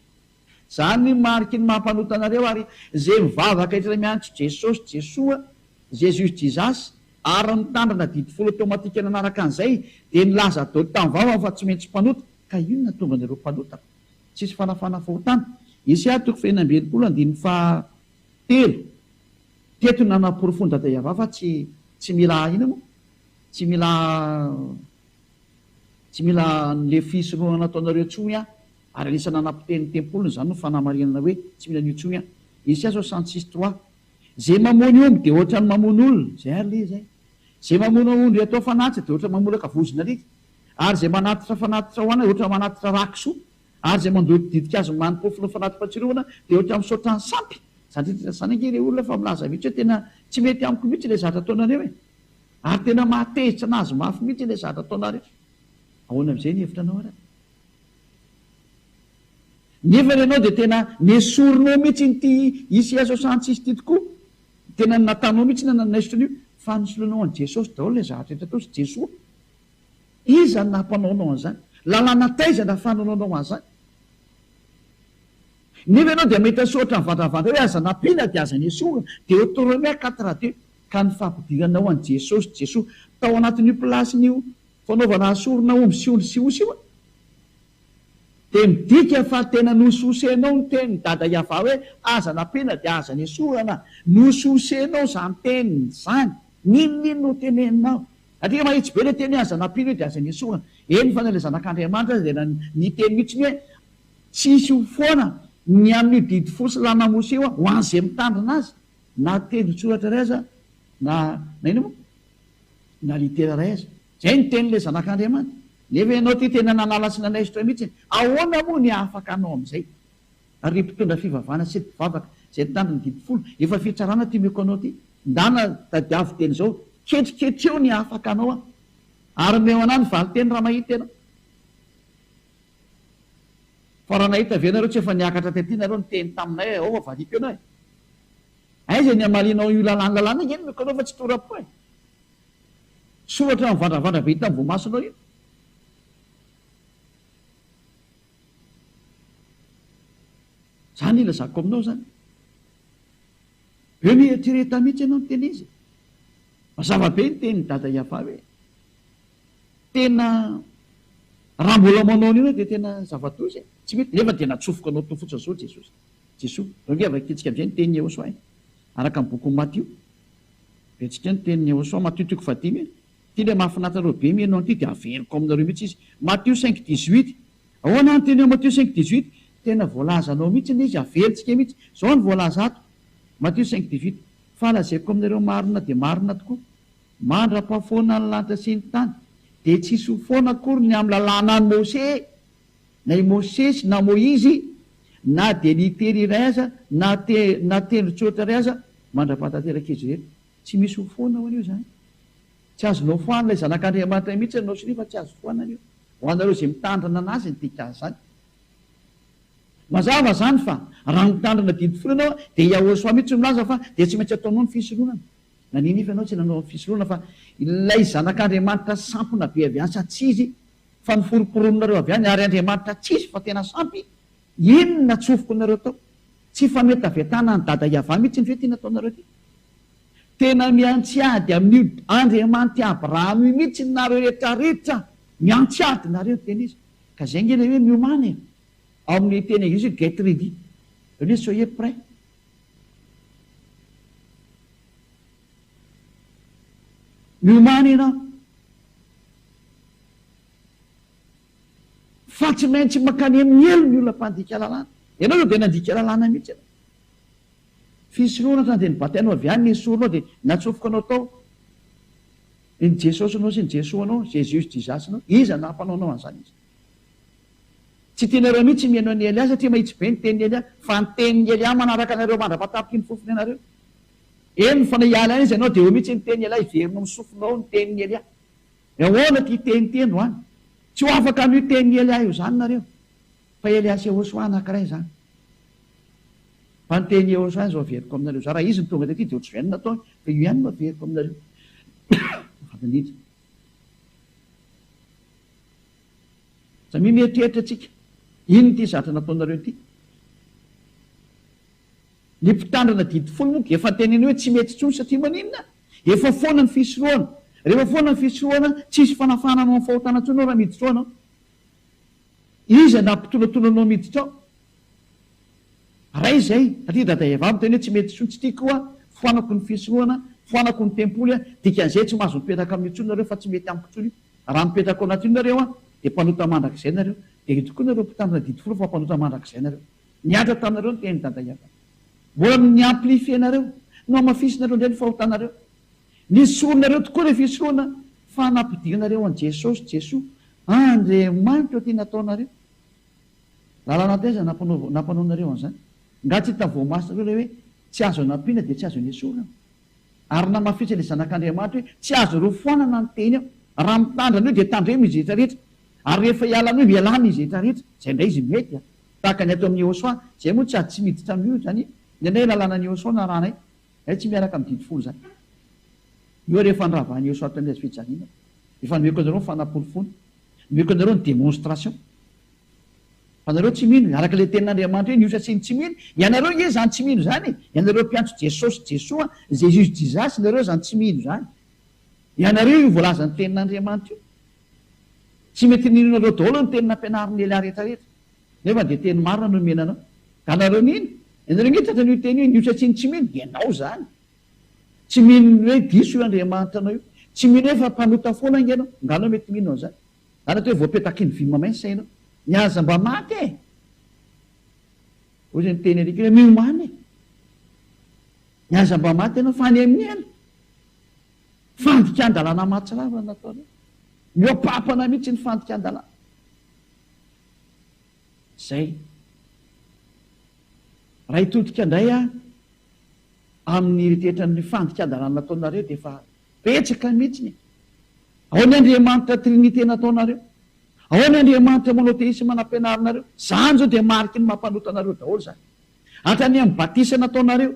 zany ny mariky ny maha mpanota anareo ary zay mivavaka etra mianitry Jesosy Jesoa Jesus Jesus ary mitandrina didy folo automatique nanaraka anizay dia nilaza dot tam vavany fa tsy mentsy mpanota ka inona tombony ireo mpanota Tsisy fanafana fahotana. Isaiah toko fahefatra amby enimpolo andininy faha telo. Teto no nanaporofoan dada Yavah fa tsy tsy mila inona moa? Tsy mila tsy mila anle fisorohana nataonareo intsony an! Ary anisany nanapotehiny ny tempoliny izany no fanamarinana hoe tsy mila an'io intsony an! Isaiah soixante six trois. Zay mamony omby dia ohatrany mamony olona. Zay ary le zay. Zay mamony ondry atao fanaja dia ohatrany mamolaka vozon'alika. ary izay manatitra fanatitra ho anay ohatra manatitra rakisoa ary izay mandoa eto didink'azony manipofola fanati-patsirovana dia ohatra misaotra ny sampy satria tena zany ange ilay olona fa milaza mihitsy hoe tena tsy mety amiko mihitsy ilay zavatra ataonareo e! ary tena mahatezitra anazy mafy mihitsy ilay zavatra ataonareo ahoana amin'izay ny hevitra anao ary nefa ianao dia tena nesorinao mihitsy ity isy azo santsisy ity tokoa tena natanao mihitsy na nanaisotra an'io fa ny solonao an'i Jesosy daholo ilay zavatra rehetra atao sy Jesoa Iza no nampanaonao an'izany? Lalàna taiza no ahafahanao manao an'izany? Nefa ianao dia mahita soratra mivandravandra hoe aza nampiana dia aza nesorina. Deotoromia quatre a deux, Ka ny fampidiranao an'i Jesosy, Jesoa, tao anatin'io plasin'io fanaovana ahy sorona omby sy ondry sy osy io, dia midika fa tena nosososenao ny tenin'i Dada Iavah hoe aza nampiana dia aza nesorana. Nosososenao izany teniny izany. N'inon'inona hoteneninao, Adika mahitsy be ilay teny aza nampiany hoe dia aza nesorina. Eny fa na ilay zanak'Andriamanitra aza dia niteny mihitsy hoe tsy hisy ho foana ny amin'io didy fo sy lanina Mosesy io ho an'izay mitandrina azy na tendron-tsoratra iray aza na na inona moa na litera iray aza. Izay ny tenin'ilay zanak'Andriamanitra. Nefa ianao ity tena nanala sy nanaisotra mihitsy. Ahoana moa ny hahafaka anao amin'izay? Ary ry mpitondra fivavahana sy mpivavaka izay nitandro ny didy folo, efa fitsarana ity omeko anao ity. Ndana tadiavo teny izao, ketriketreo ny hahafaka anao aho, ary omeo anah ny valinteny raha mahita ianao. Fa raha nahita ve nareo tsy efa niakatra taty nareo niteny taminay hoe aova valio tena e. Aiza ny hamalianao io lalàna lalàna io, eny omeko anao fa tsy tora-po e. Soratra mivandravandra be hita amin'ny voamasonao io. Zany ilazako aminao zany. Be mieritrereta mihitsy ianao ny teny izy. Mazava be ny teny dada Iavah hoe tena raha mbola manao an'io ianao dia tena zava-doza e. Tsy mety nefa dia natsofoka anao tao fotsiny izao Jesosy. Jesoa, zao nge vakintsika amin'izay ny tenin'i Yehosua e. Araka ny bokin'i Matio. Ventsika ny tenin'i Yehosua, Matio toko fahadimy e. Ity ilay mahafinaritra anareo be mihaino an'ity dia averiko aminareo mihitsy izy. Matthieu cinq dix huit. Ahoana ny teny ao Matthieu cinq dix huit? Tena voalazanao mihitsy ilay izy, averintsika mihitsy. Izao no voalaza ato, Matthieu cinq dix huit, Fa lazaiko aminareo marina dia marina tokoa, mandra-pahafoana ny lanitra sy ny tany, dia tsy hisy ho foana akory ny amin'ny lalàna an'i Mose, na i Mosesy, na Moizy, na dia litera iray aza, na te, na tendron-tsoratra iray aza, mandra-pahatanteraky izy ireny. Tsy misy ho foana hono io izany. Tsy azonao foan'ilay Zanak'Andriamanitra mihitsy ianao sy nefa tsy azo foanana io. Ho anareo izay mitandrina anazy ny dikany izany. Mazava izany fa raha mitandrina didy folo ianao dia Yahoshua mihitsy no milaza fa dia tsy maintsy ataonao ny fisoronana. Na ninifa ianao tsy nanao ny fisoronana fa ilay Zanak'Andriamanitra sampona be avy any sa tsy izy fa noforomporononareo avy any ary Andriamanitra tsy izy fa tena sampy. Inona tsofiko nareo tao? Tsy fametavetana an'i Dada Yavah mihitsy ve ity nataonareo ity? Tena miantsy ady amin'io Andriamanitry Abraham io mihitsy nareo rehetra rehetra, miantsy ady nareo tena izy, ka zay nge le hoe miomana e, ao amin'ny teny anglisy hoe get ready, zany hoe soyez prêt. Miomana ianao. fa tsy maintsy mankany amin'ny helo ny olona mpandika lalàna. Ianao izao dia nandika lalàna mihitsy ianao. Fisorohana izany dia ny batainao avy any no esorinao dia natsofokanao tao. Dia ny Jesosinao sy ny Jesoa anao, Jesus Jesus nao, iza no hampanao anao an'izany izy? Tsy tianareo mihitsy ny mihaino an'i Elia satria mahitsy be ny tenin'i Elia, fa ny tenin'i Elia manaraka anareo mandra-patapiky ny fofona ianareo. Eny fa na hiala any izy ianao dia eo mihitsy ny tenin'i Elia, hiverina amin'ny sofinao ny tenin'i Elia. Ahoana ity teny ity androany? Tsy ho afaka amin'io tenin'i Elià io izany nareo, fa Elià sy Iehôsoà anankiray izany. Fa ny tenin'i Iehôsoà izao averiko aminareo izao, raha izy no tonga taty dia ohatr'izay no nataony, fa io ihany no averiko aminareo. Mafana indrindra. Samia mieritreritra antsika, inona ity zatra nataonareo ity? Ny mpitandrina didy folo moa efa teneniny hoe tsy mety intsony satria maninona? Efa foana ny fisorohana. Rehefa foana ny fisorohana, tsy hisy fanafahana noho ny fahotana intsony ao raha miditra ao ianao. Iza no hampitonatona anao miditra ao? Ray izay, satria Dada Eva miteny hoe tsy mety intsony, tsy tiako aho, foanako ny fisorohana, foanako ny tempoly aho, dikan'izay tsy mahazo mipetraka amin'io intsony nareo fa tsy mety amiko intsony io. Raha mipetraka ao anatin'io nareo, dia mpanota mandrakizay nareo. Dia io tokoa nareo mpitandrina didy folo fa mpanota mandrakizay nareo. Niantra taminareo ny tenin'i Dada Iavana. Mbola ny ni-amplifier-nareo, nohamafisinareo indray ny fahotanareo. Nesorinareo tokoa ilay fisehoana fa hanapodianareo an'i Jesosy, Jesoa, Andriamanitra ity nataonareo. Lalàna taiza nampanao nampanaonareo an'izany? Nga tsy hitan'ny voamasonareo ilay hoe tsy azo anampiana dia tsy azo nesorina? Ary namafisin'ilay Zanak'Andriamanitra hoe tsy azonareo foanana ny teny aho. Raha mitandrina an'io dia tandremo izy rehetra rehetra. Ary rehefa hiala amin'io dia lany izy rehetra rehetra. Izay indray izy mety an! Tahaka ny ato amin'i Yehosua, izay moa tsy tsy miditra amin'io izany, ny anay lalànan'i Yehosua no arahanay, izay tsy miaraka amin'ny didy folo izany. Io ary efa niravahan'i Yehosua tamin'ny hazo fijaliana, efa nomeko anareo ny fanaporofoana, nomeko anareo ny démonstration, fa nareo tsy mino, araka ilay tenin'Andriamanitra hoe nihoitra sy ny tsy mino, ianareo nge izany tsy mino izany, ianareo mpiantso Jesosy, Jesoa, Jesus, Jesus, nareo izany tsy mino izany, ianareo io voalazan'ny tenin'Andriamanitra io. Tsy mety ninoanareo daholo ny teny nampianarin'i Elia rehetrarehetra, nefa dia teny marina no nomeny anao. Ka nareo nino? Ianareo ange tratran'ny io teny io, ny osa tsy ny tsy mino dia ianao izany. Tsy mino ny hoe diso io Andriamanitra anao io. Tsy mino hoe efa mpanota foana ange ianao. Nga ianao mety mino an'izany? Nga rahateo voapetaky ny vy mamay ny sainao? Ny ahy aza mba maty e! Ozy niteny an'ika hoe miomana e! Ny ahy aza mba maty ianao fa any amin'ny hela. Fandikan-dalàna mahatsiravina no nataonao. Mihoa-pampana mihitsy ny fandikan-dalàna. Izay. Raha hitodika indray aho amin'ny eritreritra ny fandikan-dalàna nataonareo dia efa betsaka mihitsy ny. Ao ny Andriamanitra Trinite nataonareo. Ao ny Andriamanitra Monoteisma nampianarinareo. Izany izao dia mariky ny maha mpanota anareo daholo izany. Hatrany amin'ny batisa nataonareo.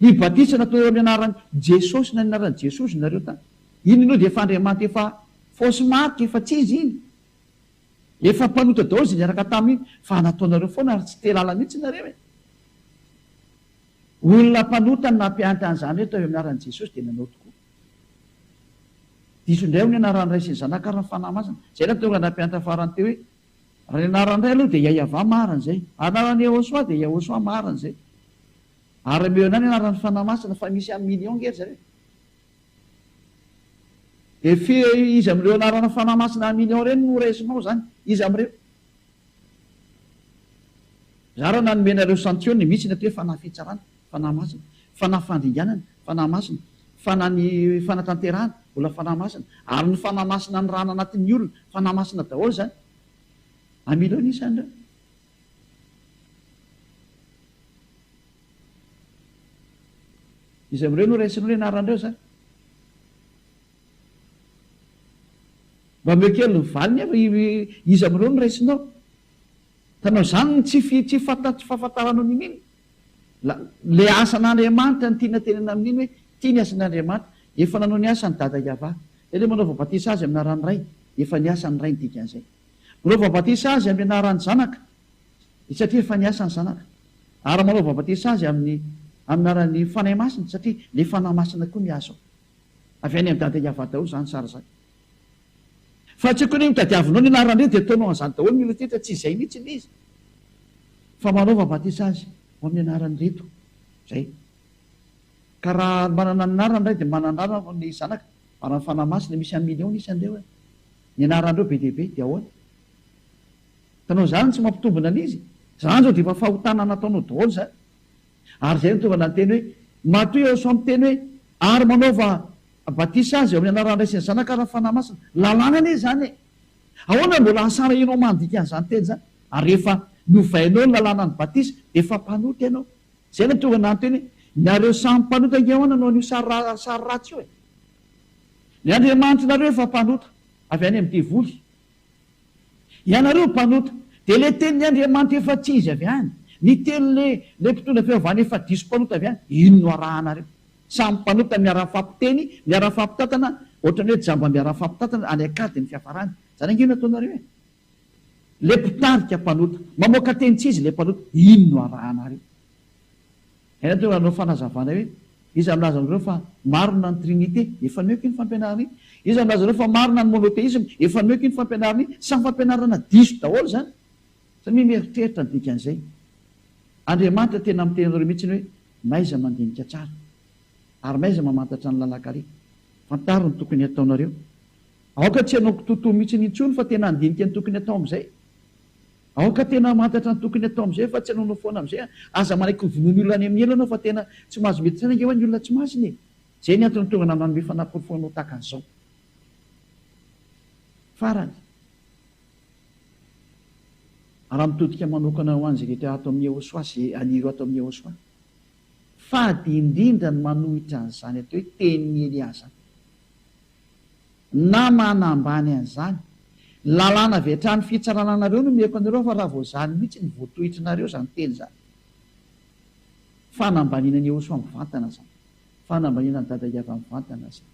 Ny batisa natao eo amin'ny anaran'i Jesosy na ny anaran'i Jesoa izy nareo tany. Iny aloha dia efa Andriamanitra efa fausse marque, efa tsy izy iny. Efa mpanota daholo izay niaraka taminy fa nataonareo foana ary tsy te lala mihitsy nareo e. Olona mpanota no nampianatra an'izany hoe atao eo amin'ny anaran'i Jesosy dia nanao tokoa. Diso indray hono ny anaran'ny Ray sy ny Zanaka ary ny Fanahy Masina. Izay nahatonga ny nampianatra farany teo hoe. Raha ny anarany iray aloha dia Yayavah marina izay. Anaran'i Yehosua dia Yehosua marina izay. Ary ameo ihany ny anaran'ny Fanahy Masina fa misy amin'ny millions ange ry zareo. Dia fi, iza amin'ireo anarana Fanahy Masina en millions ireny no ho raisinao izany? Iza amin'ireo? Za raha nanome anareo santionne mihitsy ny atao hoe Fanahy Fitsarana. Fanahy Masina, Fanahy fandringanana, Fanahy Masina, Fanahy ny fanatanterahana, mbola Fanahy Masina, ary ny Fanahy Masina nirahana anatin'ny olona, Fanahy Masina daholo izany. Amy ireo ny isan'ireo. Iza amin'ireo no raisinao ny anaran'ireo izany? Mba omeo kely ny valiny aho fa iza amin'ireo no raisinao? Tanao izany ny tsy fahafantaranao ny mino. Ilay asan'Andriamanitra no tiana tenenina amin'iny hoe ity ny asan'Andriamanitra, efa nanao ny asany Dada Yavah. Dia ilay manaova batisa azy amin'ny anaran'ny Ray, efa ny asan'ny Ray ny dikan'izay. Manaova batisa azy amin'ny anaran'ny Zanaka, dia satria efa ny asan'ny Zanaka. Ary manaova batisa azy amin'ny amin'ny anaran'ny Fanahy Masina, satria ilay Fanahy Masina koa miasa ao. Avy any amin'i Dada Yavah daholo izany sary izany. Fa tsy akory ny tadiavinao ny anaran-dre dia ataonao an'izany daholo ny olona rehetra, tsy izay mihitsy ilay izy fa manaova batisa azy ho amin'ny anaran'ireto izay. Ka raha manana ny anarany ny Ray dia manana ny anarany ny Zanaka ary ny Fanahy Masina, misy an'i millions isan'ireo e! Ny anaran'ireo be dia be dia ahoana? Hitanao izany no tsy mampitombina an'izy? Izany izao dia efa fahotana nataonao daholo izany. Ary izay no tonga nanteny hoe, Matoa eo sao miteny hoe, Ary manaova batisa aza eo amin'ny anaran'ny Ray sy ny Zanaka ary ny Fanahy Masina. Lalàna anie izany e! Ahoana no mbola asarahinao mandika an'izany teny izany? Ary rehefa novainao ny lalàna ny batisa dia efa mpanota ianao. Izay no tonga nanteny hoe, Nareo samy mpanota ange ahoana no an'io sary ratsy io e! Ny Andriamanitr'nareo efa mpanota, avy any amin'ny devoly. Ianareo mpanota, dia le tenin'i Andriamanitra efa tsy izy avy any, ny teny le le mpitondra fiaovana efa diso mpanota avy any, iny no arahanareo. Samy mpanota miara-mifampiteny, miara-mifampitantana, ohatrany hoe jamba miara-mifampitantana any an-kady ny fiafarany. Zany ange no ataonareo e! Le mpitarika mpanota, mamoaka teny tsy izy le mpanota, iny no arahanareo. Aina toa nanao fanazavana hoe, Iza milaza aminareo fa marina ny Trinite? Efa nihoiko iny fampianarana iny. Iza milaza anareo fa marina ny monotheisme? Efa nihoiko iny fampianarana iny. Samy fampianarana diso daholo izany. Samia mieritreritra ny dikan'izay. Andriamanitra tena miteny anareo mihitsy hoe, N'aiza mandinika tsara? Ary n'aiza mamantatra ny lalan-kare? Fantaro ny tokony hataonareo. Aoka tsy hanao kitoatoa mihitsy intsony fa tena handinika ny tokony hatao amin'izay. Aoka tena hamantatra ny tokony atao amizay fa tsy hanaonao foana amizay an! Aza manaiky ho vonoin'ny olona any amin'ny ela ianao fa tena tsy mahazo mety saina ange ho'a ny olona tsy masina e! Zay ny antony tonga nananome fanaporofoanao tahaka an'izao. Farany, raha mitodika manokana ho an'izay rehetra ato amin'ny Ehosoa sy an'ireo ato amin'ny Ehosoa, fady indrindra ny manohitra an'izany atao hoe tenin'i Elià zany. Na manambany an'izany. Lalàna avy hatrany fitsarana anareo no omeko anareo fa raha vao zany mihitsy ny votohitrinareo zany teny zany. Fanambaniana an'i Ehosoa mivantana zany. Fanambaniana an'i Dada Iavah mivantana zany.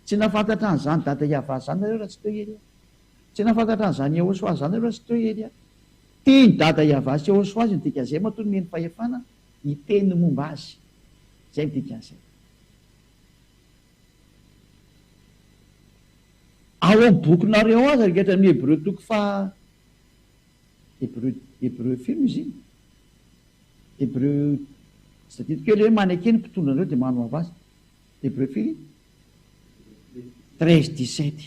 Tsy nahafantatra an'izany Dada Iavah zany nareo raha tsy teo ery an. Tsy nahafantatra an'izany Ehosoa zany nareo raha tsy teo ery an. Tian'i Dada Iavah sy Ehosoa azy ny dikan'izay matoa nomeny fahefana hiteny ny momba azy. Zay ny dikan'izay. Ao amin'ny bokinareo aza rehetra amin'ny Hebreo toko faha Hebreo Hebreo firy izy iny? Hebreo tsy tadidiko ela hoe maneke ny mpitondra anareo dia manao avy azy. Hebreo firy iny? Treize dix sept.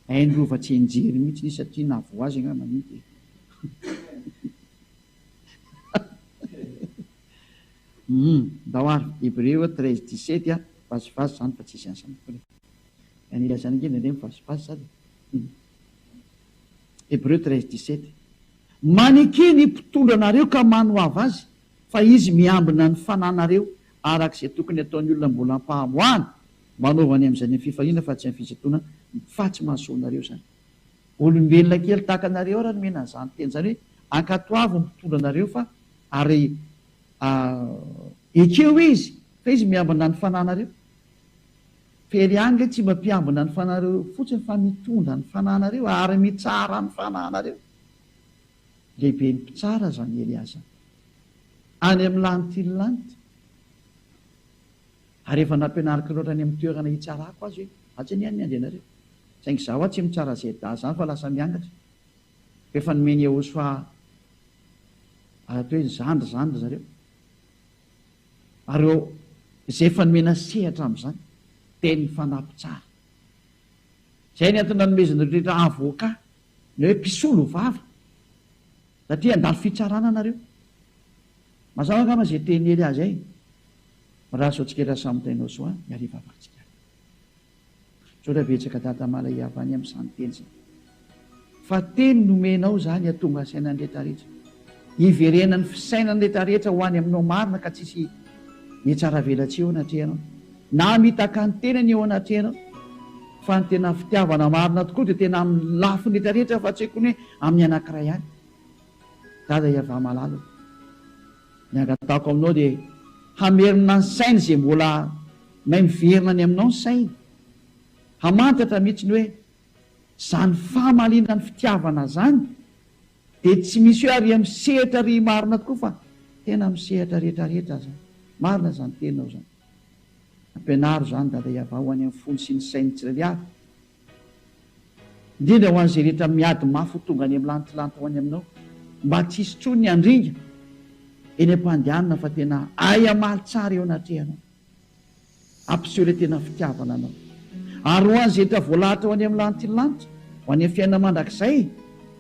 Hainy rova tsy enjery mihitsy izy satria na voazy angamba mety e. Humm ndao ary Hebreo treize dix sept a vazivazy zany fa tsisy asa mikory e! Any ilazana ange nendrey mivazivazy za dia humm Hebreo treize dix sept Maneke ny mpitondra anareo ka manohava azy fa izy miambina ny fananareo araka izay tokony ataony olona mbola ampahamoahana manaova ny amzany am fifahiana fa tsy am fisintonana fa tsy mahasoa anareo zany. Olombelona kely tahaka anareo ary nomena an'izany teny izany hoe ankatoavy ny mpitondra anareo fa ary ekeo izy fa izy miambina ny fanahinareo fery ihany ilay tsy mba mpiambina ny fanahinareo fotsiny fa mitondra ny fanahinareo ary mitsara ny fanahinareo lehiben'ny mpitsara zany eliazar any amin'ny lantilanty Ary efa nampianariko loatra any amin'ny toerana hitsarako azy hoe atsy anie ny andianareo. Saingy izaho atsy mitsara Zeddah izany fa lasa miangatra. Fa efa nomeny Yehosfa atao hoe zandry izany ry zareo. Ary izay efa nomena sehatra amin'izany dia ny fanahy mpitsara. Izay ny antony nanomezan'ireo rehetra avoka, ny hoe mpisolo vava. Raha te handalo fitsarana nareo. Mazava angamba izay teny hery azy ay. Mirary zao tsikera samy tainao soa ny hariva avantsikay. Misaotra betsaka dada mala iavany am zany teny zany. Fa teny nomenao zany atonga saina anretra retra. Iverenany fisainana retra retra ho any aminao marina ka tsisy hietsaravelatsihy eo anatrehanao. Na hamitaka ny tenany eo anatrehana fa ny tena fitiavana marina tokoa dia tena amin'ny lafiny rehetra rehetra fa tsy hoe amin'ny anankiray ihany. Dada Eva malala o! Ny angatahako aminao dia hamerina ny sainy izay mbola may miverina any aminao ny sainy, hamantatra mihitsy ny hoe izany famaliana ny fitiavana izany dia tsy misy hoe ary amin'ny sehatra ary marina tokoa fa tena amin'ny sehatra rehetra rehetra aza. Marina izany teninao izany. Ampianaro izany Dada hiavaha ho any amin'ny fony sy ny sain'ny tsirairay avy, indrindra ho an'izay rehetra miady mafy ho tonga any amin'ny lantilanty ho any Aminao, mba tsy hisy intsony ny handringa eny am-pandehanana fa tena hahay hamaly tsara eo anatrehanao. Ampiseho ilay tena fitiavana Anao. Ary ho an'izay rehetra voalahatra ho any amin'ny lantilanty, ho any amin'ny fiainana mandrakizay,